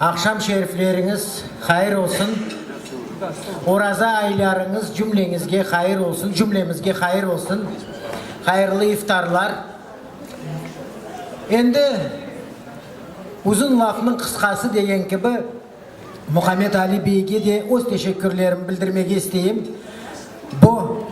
Aqşam şerifleriñiz hayır olsun, oraza aylarıñız cümleñizge hayır olsun, cümlemizge hayır olsun, hayırlı iftarlar. Endi uzun lafnıñ qısqası degen kibi, Muhammed Ali beyge de öz teşekkürlerimni bildirmege isteyim. Bu.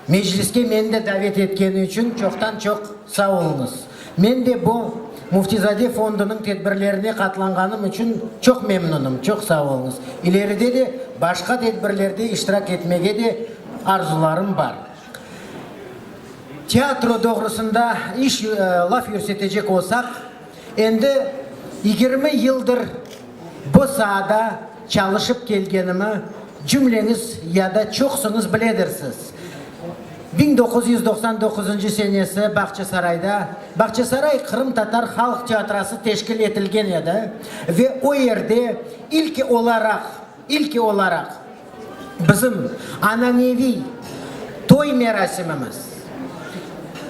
Mecliske meni de davet etkeni içün çoqtan-çoq sağ oluñız. Men de bu Müftizade fondunıñ tedbirlerine qatlanğanım içün çoq memnunım. Çoq sağ oluñız. İleride de başqa tedbirlerde iştirak etmege de arzularım bar. Teatro doğrusında iş, laf yürsetecek olsaq, Endi yigirmi yıldır bu saada çalışıp kelgenimi cümleñiz ya da çoqsıñız biledirsiz. Biñ doquz yüz doqsan doquzıncı senesi Bağçasarayda Bağçasaray qırımtatar halq teatrası teşkil etilgen edi ve o yerde ilki olaraq, İlki olaraq, bizim ananeviy toy merasimimiz,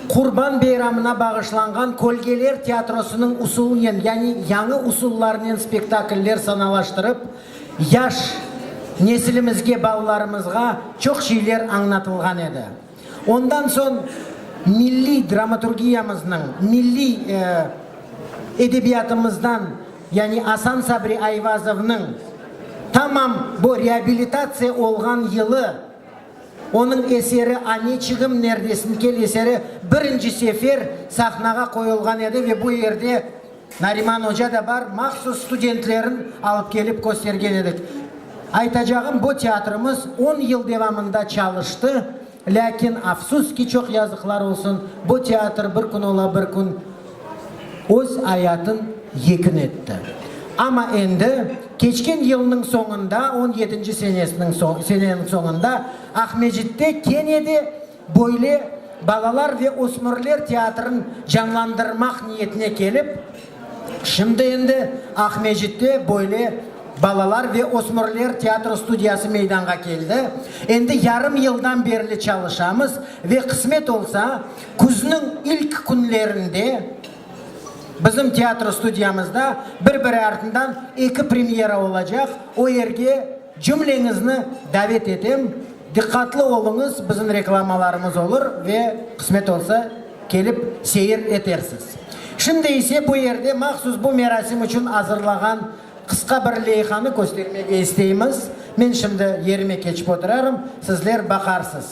Qurban beyramına bağışlanğan Kölgeler teatrosınıñ usulnen, yani yañı usullarnen spektakller sanalaştırıp, yaş nesilimizge, balalarımızğa çoq şeyler añlatılğan edi. Ondan soñ milliy dramaturgiyamıznıñ, milliy edebiyatımızdan, yani Asan Sabri Ayvazovnıñ tamam bu reabilitatsiya olğan yılı, onıñ eseri Aneçigim, nerdesin, kel eseri birinci sefer sahnağa qoyulğan edi ve bu yerde Nariman oca da bar, mahsus studentlerin alıp kelip köstergen edik. Aytacağım, bu teatrımız on yıl devamında çalıştı, lâkin, afsus ki, çoq yazıqlar olsun, bu teatr bir kün ola bir kün öz ayatın yekün etti. Amma endi, keçken yılnıñ soñunda, on yedinci senesiniñ, seneniñ soñunda Aqmecitte kene de Böyle balalar ve ösmürler teatrın canlandırmaq niyetine kelip, şimdi endi Aqmescitte böyle balalar ve ösmürler teatro studiyası meydanğa keldi. Endi yarım yıldan berli çalışamız ve qısmet olsa, küzniñ ilk künlerinde bizim teatro studiyamızda bir-biri artından eki premyera olacaq, o yerge, Cümleñizni davet etem, diqqatlı oluñız, bizim reklamalarımız olur ve qısmet olsa, kelip seyir etersiz. Şimdi ise bu yerde mahsus bu merasim içün azırlağan qısqa bir leyhanı köstermege isteymiz. Men şimdi yerime keçip oturarım, sizler baqarsız.